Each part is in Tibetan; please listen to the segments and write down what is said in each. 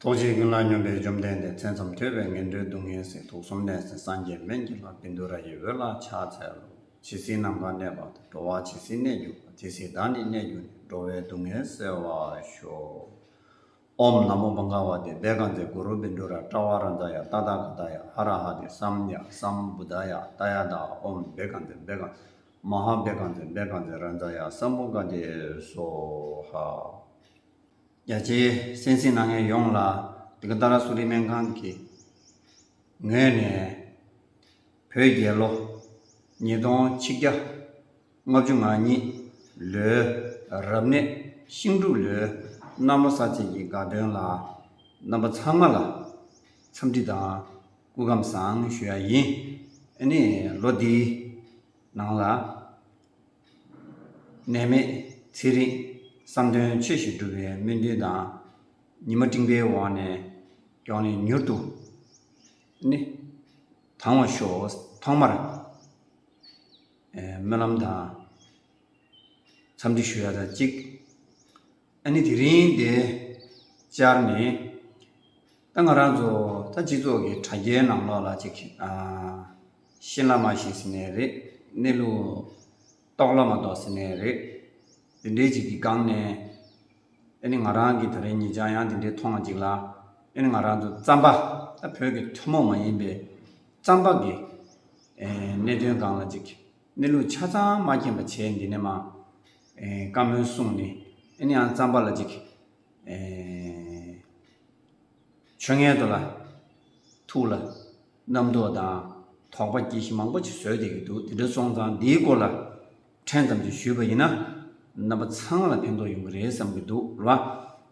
རྟོག་བྱའི་ཀུན་སློང་སྙོམས་པའི་བཅོམ་ལྡན་འདས་མཚན་ཙམ་ཐོས་པས་ངན་འགྲོའི་སྡུག་བསྔལ་སྲིད་དུག་གསུམ་ལས་སེམས་སངས་རྒྱས་སྨན་གྱི་ལྷ་བིནྡུ་ར་ཡི་འོད་ལ་ཕྱག་འཚལ་ལོ། ཇི་སྲིད་ནམ་མཁའ་གནས་པ་དང་འགྲོ་བ་ཇི་སྲིད་གནས་གྱུར་པ་དེ་སྲིད་བདག་ནི་གནས་གྱུར་ནས་འགྲོ་བའི་སྡུག་བསྔལ་སེལ་བར་ཤོག། ཨོམ་ནམ་མོ་བངྒཱ་བ་དེ་བེ་ག་ཛའི་གུ་རུ་བིནྡུ་ར་ཏྲ་བ་ར་ཛ་ཡ་ཏཱ་ཏཱ་ག་ཏཱ་ཡ་ཧ་ར་ཧ་དེ་སམ་ཡ་སམ་བུ་ཏཱ་ཡ་ཏཱ་ཡ་ཏཱ་ཨོམ་བེ་ག་ཛའི་བེ་ག་མ་ཧཱ་བེ་ག་ཛའི་བེ་ག་ཛའི་ར་ཛ་ཡ་སམ་བུ་ག་དེ་སོ་ཧ། རྒྱ་ཆེའི་སེམས་སེམས་ནང་ངེས་ཡོངས་ལ་དེ་ག་ད་ར་སུ་རིག་སྨན་ཁང་གི་ངོས་ནས་བོད་རྒྱལ་ལོ་ཉིས་སྟོང་ཆིག་བརྒྱ་ལྔ་བཅུ་ང་གཉིས་ལོའི་རབ་གནས་ཤིང་འབྲུག་ལོའི་གནམ་ལོ་གསར་ཚེས་ཀྱི་དགའ་སྟོན་ལ་རྣམ་པ་ཚང་མ་ལ་འཚམས་འདྲི་དང་སྐུ་ཁམས་བཟང་ཞུ་ཡ་ཡིན། ཨ་ནི་ལོ་འདིའི་ནང་ལ། ནད་མེད་ཚེ་རིང། བསམ་དོན་ཆོས་ཞུ་སྒྲུབ་པའི་སྨོན་འདུན་དང། ཉི་མ་སྤྲིན་པའི་འོག་ནས་ཡོང་ནས་མྱུར་དུ་ནི། དྭངས་བར་ཤོག་ཐོག་མར། སྨོན་ལམ་དང། འཚམས་འདྲི་ཞུ་ཡ་ད་གཅིག། ཨ་ནི་དེ་རིང་འདི་སྤྱར་ནི། ད་ང་རང་ཚོ་ད་སྤྱི་ཚོགས་ཀྱི་དྲ་རྒྱའི་ནང་ལོགས་ལ་ཅིག། ཤེས་ལ་མ་ཤེས་ཟེར་ནས་རེད། གནས་ལུགས། རྟོགས་ལ་མ་རྟོགས་ཟེར་ནས་རེད། དེ་འདྲའི་ཅིག་གི་སྒང་ནས། ཨེ་ནི་ང་རང་གིས་ད་རེས་ངེད་ཅག་ཡང་དེ་འདྲའི་མཐོང་བ་ཅིག་ལ། ཨེ་ནི་ང་རང་ཚོ་རྩམ་པ། བོད་ཀྱི་ཐུན་མོང་མ་ཡིན་པའི། རྩམ་པ་གི། གནད་དོན་སྒང་ལ་ཅིག། གནས་ལུགས་ཆ་ཚང་མ་མཁྱེན་པ་བྱས་འདི་ནས་མ། བཀའ་མོལ་གསུངས་ནས། ཨེ་ནི་ཡང་རྩམ་པ་ལ་ཅིག། ཆོས་ངན་དུ་ལ། ཐུགས་ལ། རྣམ་རྟོག་དང། དོགས་པ་གྱིས་ཤིག་མང་པོ་ཞིག་བཟོས་བསྡད་ཀྱི་འདུག་དེ་འདྲ་སོང་ཙང་འདིའི་སྐོར་ལ་ཕྲན་ཙམ་ཞིག་ཞུས་པ་ཡིན་ན། རྣམ་པ་ཚང་ལ་ཕན་ཐོགས་ཡོང་གི་རེད་བསམ་གྱི་འདུག་ལ།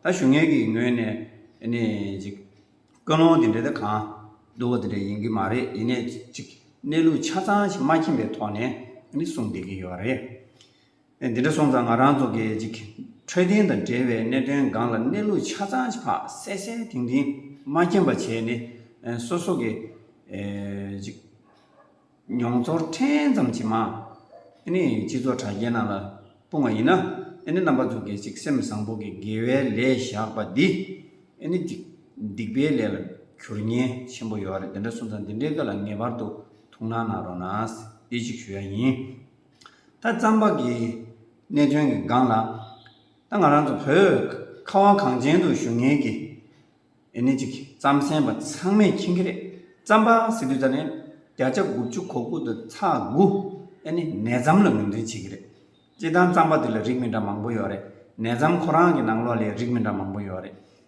ད་བཞུགས་ངེད་ཀྱི་ངོས་ནས་ནི་ཅིག། ཀུན་སློང་དེ་འདྲ་དེ་གང་བསྡུར་བ་དེ་འདྲ་ཡིན་གྱི་མ་རེད་ཡིན་ནས་ཅིག་གནས་ལུགས་ཆ་ཚང་ཞིག་མ་མཁྱེན་པའི་ཐོག་ནས་ནི་གསུངས་བསྡད་ཀྱི་ཡོད་རེད། འདི་འདྲ་སོང་ཙང་ང་རང་ཚོ་གི་ཅིག་འཕྲོད་བསྟེན་དང་འབྲེལ་བའི་གནད་དོན་སྒང་ལ་གནས་ལུགས་ཆ་ཚང་ཕག་གསལ་གསལ་དིང་དིང་མ་མཁྱེན་པ་བྱས་ནས་སོ་སོ་གི་ཅིག་མྱོང་ཚོར་ཕྲན་ཙམ་གྱིས་མ་ནི་སྤྱི་ཚོགས་དྲ་རྒྱའི་ནང་ལ་སྤུང་བ་ཡིན་ན་ནི་རྣམ་པ་ཚོ་གི་ཅིག་སེམས་བཟང་པོ་གི་དགེ་བའི་ལས་བཞག་པ་འདི་ནི་ཅིག་སྡིག་པའི་ལས་ལ་གྱུར་ཉེན་ཆེན་པོ་ཡོད་རེད་འདི་འདྲ་སོང་ཙང་འདི་འདྲའི་སྐད་ལ་ངེས་པར་དུ་ཐུགས་སྣང་གནང་རོགས་ནས་ཅིག་ཞུ་ཡ་ཡིན། ད་རྩམ་པ་གི་གནད་དོན་གྱི་སྒང་ལ། ད་ང་རང་ཚོ་བོད་ཁ་བ་གངས་ཅན་དུ་བཞུགས་ངེས་ཀྱི་ཨེ་ནི་ཅིག་རྩམ་གཟན་པ་ཚང་མས་མཁྱེན་གྱི་རེད། རྩམ་པ་སི་ཏུ་ཚ་ནི་བརྒྱ་ཆ་དགུ་བཅུ་གོ་དགུ་དང་ཚ་དགུ་ཨེ་ནི་ནས་རྩམ་ལ་ངོས་འཛིན་བྱེད་ཀྱི་རེད། སྤྱིར་བཏང་རྩམ་པ་དེ་ལ་རིགས་མི་འདྲ་མང་པོ་ཡོད་རེད། ནས་རྩམ་ཁོ་རང་གི་ནང་ལོགས་ལས་རིགས་མི་འདྲ་མང་པོ་ཡོད་རེད།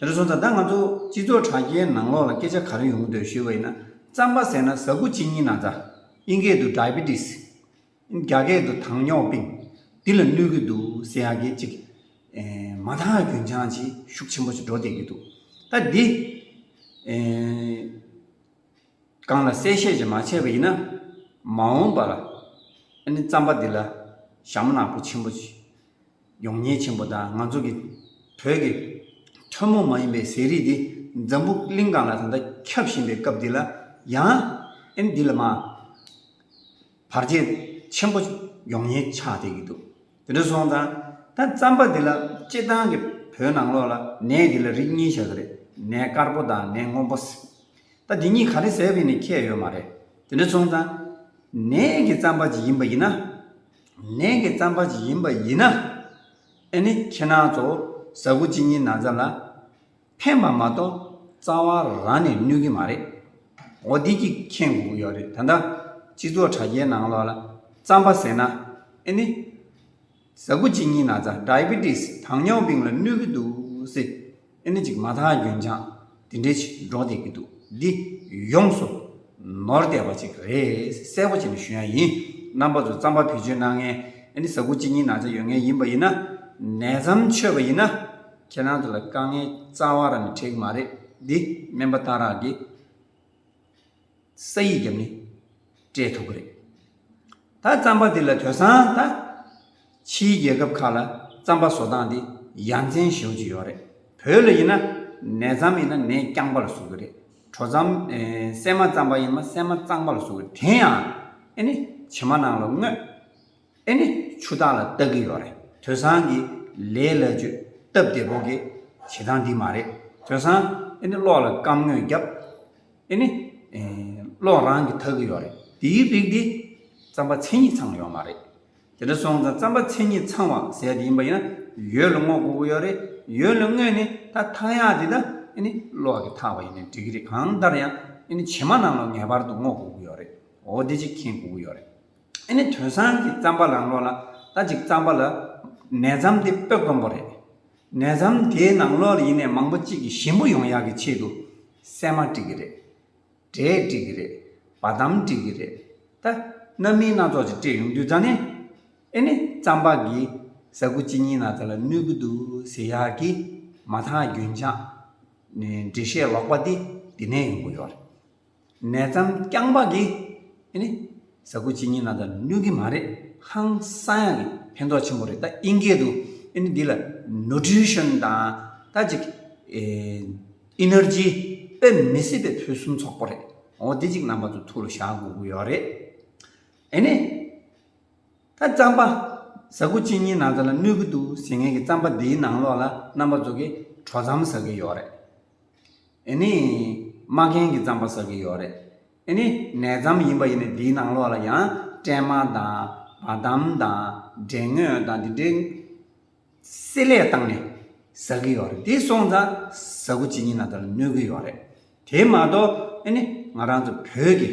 དེར་སོང་ཙང་ད་ང་ཚོ་སྤྱི་ཚོགས་དྲ་རྒྱའི་ནང་ལོགས་ལ་སྐད་ཆ་ག་རེ་ཡོང་གི་འདུག་ཞུས་པ་ཡིན་ན། རྩམ་པ་ཟས་ན་ཟ་ཁུ་གཅིག་གཉིས་ན་ཚ། དབྱིན་སྐད་དུ Diabetes། རྒྱ་སྐད་དུ་དྭངས་སྙོག་སྤིན། འདི་ལ་གནོད་ཀྱི་འདུག་ཟེར་ཡག་གི་གཅིག། མ་མཐའ་རྒྱུན་ཆང་གཅིག་ཤུགས་ཆེན་པོ་ཞིག་འགྲོ་བསྡད་ཀྱི་འདུག་ད་འདི། གང་ལ་གསལ་བཤད་ཅིག་མ་བྱས་པ་ཡིན་ན། མ་འོངས་པར། ཨ་ནི་རྩམ་པ་འདི་ལ། ཞྭ་མོ་ནག་པོ་ཆེན་པོ། ཡོང་ཉེན་ཆེན་པོ་དང་ང་ཚོ་གི། བོད་ཀྱི། ཐུན་མོང་མ་ཡིན་པའི་ཟས་རིགས་འདི། འཛམ་བུ་གླིང་སྒང་ལ་ད་ལྟ་ཁྱབ་བཞིན་པའི་སྐབས་འདི་ལ། ཡང། ཨ་ནི་འདི་ལ་མ། བར་ཆད། ཆེན་པོ། ཡོང་ཉེན་ཆགས་བསྡད་ཀྱི་འདུག། དེ་འདྲ་སོང་ཙང་ད་རྩམ་པ་འདི་ལ་སྤྱི་བཏང་གི་བོད་ནང་ལོགས་ལ་ནས་འདི་ལ་རིགས་གཉིས་བྱ་གི་རེད་ནས་དཀར་པོ་དང་ནས་སྔོན་པོ། ད་འདི་གཉིས་ག་རེ་ཟེར་བའི་ནས་ཁྱད་ཡོད་མ་རེད་དེ་འདྲ་སོང་ཙང། ནས་ཀྱི་རྩམ་པ་ཅིག་ཡིན་པ་ཡིན་ན། ནས་ཀྱི་རྩམ་པ་ཅིག་ཡིན་པ་ཡིན་ན། ཨེ་ནི་ཁྱེད་རང་ཚོ་ཟ་གུ་གཅིག་གཉིས་ན་ཙམ་ལ། ཕན་པ་མ་གཏོགས་རྩ་བ་རང་ནས་གནོད་ཀྱི་མ་རེད། འོ་བདེ་སྐྱིད་མཁྱེན་དགོས་ཀྱི་ཡོད་རེད་ད། སྤྱི་ཚོགས་དྲ་རྒྱའི་ནང་ལོགས་ལ་རྩམ་པ་ཟེར་ན་ཨེ་ནི། གཟའ་དགུ་གཅིག་གཉིས་ན་རྩ Diabetes དྭངས་སྙོག་བིང་ལ་གནོད་ཀྱི་འདུག་ཟེར་ཨེ་ནི་ཅིག་མ་ཐག་རྒྱུན་ཆང་དེ་འདྲའི་ཞིག་འགྲོ་བསྡད་ཀྱི་འདུག་འདི་ཡོངས་སུ་ནོར་བསྡད་པ་ཅིག་རེད་གསལ་པོ་བྱས་ནས་ཞུ་ཡ་ཡིན། རྣམ་པ་ཚོ་རྩམ་པ་བེད་སྤྱོད་གནང་མཁན་ཨེ་ནི་གཟའ་དགུ་གཅིག་གཉིས་ན་རྩ་ཡོད་མཁན་ཡིན་པ་ཡིན་ན། ནད་ཙམ་འཆོས་པ་ཡིན་ན། ཁྱེད་རང་ཚོ་ལ་དཀའ་ངལ་རྩ་བ་རང་གི་འཕྲད་གི་མ་རེད་དེ། སྨན་པ་སྟག་རག་གིས་ས་ཡིག་བརྒྱབ་ནས་སྤྲད་ཐུབ་གི་རེད། ད་རྩམ་པ་དེ་ལ་དོད་སང་ད། ཕྱིའི་རྒྱལ་ཁབ་ཁག་ལ་རྩམ་པ་བཟོ་སྟངས་དེ་ཡ་མཚན་བྱེད་ཀྱི་ཡོད་རེད། བོད་ལ་ཡིན་ན་ནས་རྩམ་ཡིན་ན་ནས་རྐྱང་པ་ལ་བཟོ་གི་རེད། གྲོ་རྩམ། སྲན་མ་རྩམ་པ་ཡིན་ན་སྲན་མ་གཙང་པ་ལ་བཟོ་གི་རེད་དེ་ཡང་ཨེ་ནས་བྱེ་མ་ནང་ལ་བརྔོས། ཨེ་ནི་ཆུ་བདག་ལ་བལྟ་གི་ཡོད་རེད། དོན་བཟང་གི་ལས་ལ་བཅོས་སྟབས་བདེ་པོ་གི་བྱེད་སྟངས་འདི་མ་རེད། དོན་བཟང་ཨེ་ནི་གློག་ལ་སྐམ་དངོས་བརྒྱབ། ཨེ་ནི། གློག་རང་གི་འཐག་གི་ཡོད་རེད། འདིའི་རིགས་འདི། རྩམ་པ་མཚན་ཉིད་ཚང་ཡོད་མ་རེད། དེ་འདྲ་སོང་ཙང་རྩམ་པ་མཚན་ཉིད་ཚང་བ་ཟེར་གི་ཡིན་པ་ཡིན་ན་ཡོད་ལ་བསྔོག་དགོས་ཀྱི་ཡོད་རེད། ཡོད་ལ་བསྔོས་ནས་ད་འཐག་ཡག་འདི་ད་ཨེ་ནི་གློག་གི་འཐག་པ་ཡིན་ན་འགྲིག་གི་རེད་གང་ལྟར་ཡང་ཨེ་ནི་བྱེ་མ་རྣམས་ལ་ངེས་པར་དུ་བསྔོག་དགོས་ཀྱི་ཡོད་རེད། འོ་འདི་གཅིག་མཁྱེན་དགོས་ཀྱི་ཡོད་རེད། ཨེ་ནི་དོན་སང་གི་རྩམ་པ་རང་ལོགས་ལ་ལྟ་ཅིག་རྩམ་པ་ལ་ནས་རྩམ་དེ་སྤོས་སྐོན་པོ་རེད། ནས་རྩམ་དེའི་ནང་ལོགས་ལ་ཡིན་ནས་མང་པོ་གཅིག་གིས་ཞིམ་པོ་ཡོང་ཡག་གི་ཆེད་དུ་སྲན་མ་བྲིས་གི་རེད། འབྲས་བྲིས་གི་རེད། བ་དམ་བྲིས་གི་རེད། ད། རྣམ་སྨིན་སྣ་ཚོགས་ཅིག་སྤྲད་ཡོང་དུས་ད་ནི། ཨེ་ནི་རྩམ་པ་གི་ཟ་ཁུ་གཅིག་གཉིས་ན་ཚ་ལ་གནོད་གི་འདུག་ཟེར་ཡག་གི་མ་མཐའ་རྒྱུན་ཆགས། ནས་འབྲི་བཤད་ལོག་པ་འདི་འདི་ནས་ཡོང་གི་ཡོད་རེད། ནས་རྩམ་རྐྱང་པ་གི་ཨེ་ནི། ཟ་ཁུ་གཅིག་གཉིས་ནང་དུ་ནུས་གི་མ་རེད་ཧང་སང་ཡང་གི་ཕན་ཐོག་ཆེན་པོ་རེད་ད་ཨིན་སྐད་དུ་ཨེ་ནི་འདི་ལ Nutrition དང་ད་ཅིག Energy དཔེ་མི་སྲིད་པའི་ཕུན་སུམ་ཚོགས་པོ་རེད་འོ་འདི་ཅིག་རྣམ་པ་ཚོ་ཐུགས་ལ་བཞག་དགོས་གི་ཡོད་རེད་ཨེ་ནི། ད་རྩམ་པ་ཟ་ཁུ་གཅིག་གཉིས་ནང་དུ་ལ་ནུས་གི་འདུག་ཟེར་ངེས་གི་རྩམ་པ་འདིའི་ནང་ལོགས་ལ་རྣམ་པ་ཚོ་གི་གྲོ་རྩམ་ཟ་གི་ཡོད་རེད། ཨེ་ནི། མ་རྒན་གྱིས་རྩམ་པ་བསགས་ཀྱི་ཡོད་རེད། ཨེ་ནི། ནས་རྩམ་ཡིན་པ་ཡིན་ནས་དེའི་ནང་ལོགས་ལ་ཡང་སྤྲེལ་མ་དང། བ་དམ་དང། འབྲས་ངོས་དང་དེ་འདྲའི། བསྲེས་ལས་བཏང་ནས། བཟའ་གི་ཡོད་རེད། དེ་སོང་ཙང། བཟའ་གོ་ཇི་སྙེད་ན་དེ་ལ་གནོད་ཀྱི་ཡོད་རེད། དེ་མ་གཏོགས། ཨེ་ནི། ང་རང་ཚོ་བོད་ཀྱི།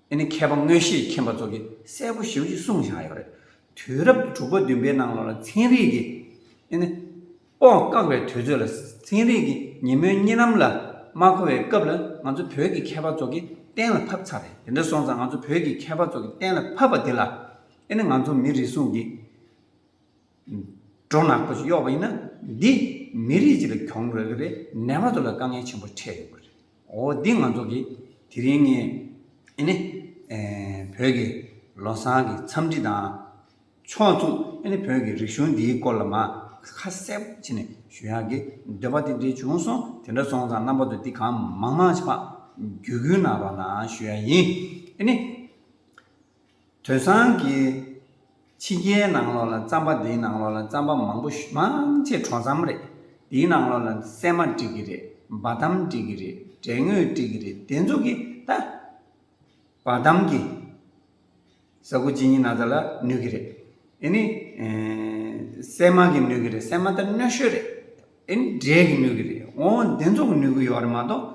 འདི་ནི་མཁས་པ་དངོས་གཞི་མཁྱེན་པ་ཚོ་གིས་གསལ་པོ་ཞིབ་ཅིག་གསུངས་བཞག་ཡོད་རེད། དུས་རབས་ཀྱི་དྲུག་པ་བདུན་པའི་ནང་ལོ་ལ་ཚན་རིག་གིས་འདི་ནི། པོ་བཀག་པའི་དུས་ཚོད་ལ་ཚན་རིག་གི་ཉིན་མོའི་གཉིས་ལམ་ལ་མ་གོ་བའི་སྐབས་ལ་ང་ཚོ་བོད་ཀྱི་མཁས་པ་ཚོ་གིས་གཏན་ལ་ཕབ་ཚར་རེད་དེ་འདྲ་སོང་ཙང་ང་ཚོ་བོད་ཀྱི་མཁས་པ་ཚོ་གིས་གཏན་ལ་ཕབ་པ་དེ་ལ་འདི་ནི་ང་ཚོ་མི་རེ་ཟུང་གིས། སྒྲོ་ནག་པོ་ཞིག་གཡོག་པ་ཡིན་ན་འདི་མི་རིགས་སྤྱི་ལ་གྱོང་རག་གི་རེད་ནད་པ་ཚོ་ལ་དཀའ་ངལ་ཆེན་པོ་འཕྲད་ཡོང་གི་རེད་འོ་འདི་ང་ཚོ་གི་དེ་རིང་ངས་ཨེ་ནི་བོད་ཀྱི་ལོ་བཟང་གི་འཚམས་འདྲི་དང་ཕྱོགས་མཚུངས་ཨེ་ནི་བོད་ཀྱི་རིག་གཞུང་འདིའི་སྐོར་ལ་མ་ཁ་གསལ་པོ་བྱེད་ནས་ཞུ་ཡག་གི་འདོད་པ་དེ་འདྲས་བྱུང་སོང་དེ་འདྲ་སོང་ཙང་རྣམ་པ་ཚོ་འདི་གང་མང་མང་ཞིག་ཕ་རྒྱུད་གུས་ན་རོགས་ན་ཞུ་ཡག་ཡིན་ཨེ་ནི། དོན་བཟང་གི། ཕྱི་རྒྱལ་ནང་ལོགས་ལ་རྩམ་པ་འདིའི་ནང་ལོགས་ལ་རྩམ་པ་མང་པོ་མང་ཆེ་གྲོ་རྩམ་རེད། འདིའི་ནང་ལོགས་ལ་སྲན་མ་བསྒྲིག་གི་རེད་འབའ་ཐམ་བསྒྲིག་གི་རེད་དྲེད་ངོས་བསྒྲིག་གི་རེད་དེ་ཚོ་གི་ད། འབའ་ཐམ་གི། ཟ་ཁུ་ཇི་སྙི་ན་ཚ་ལ་ནུས་གི་རེད། ཨེ་ནི། སྲན་མ་གི་ནུས་གི་རེད་སྲན་མ་ད་གནོད་ཤོས་རེད། ཨེ་ནི་དྲེད་གི་ནུས་གི་རེད་འོ་འདི་ཚོ་གི་ནུས་གི་ཡོག་རེད་མ་གཏོགས།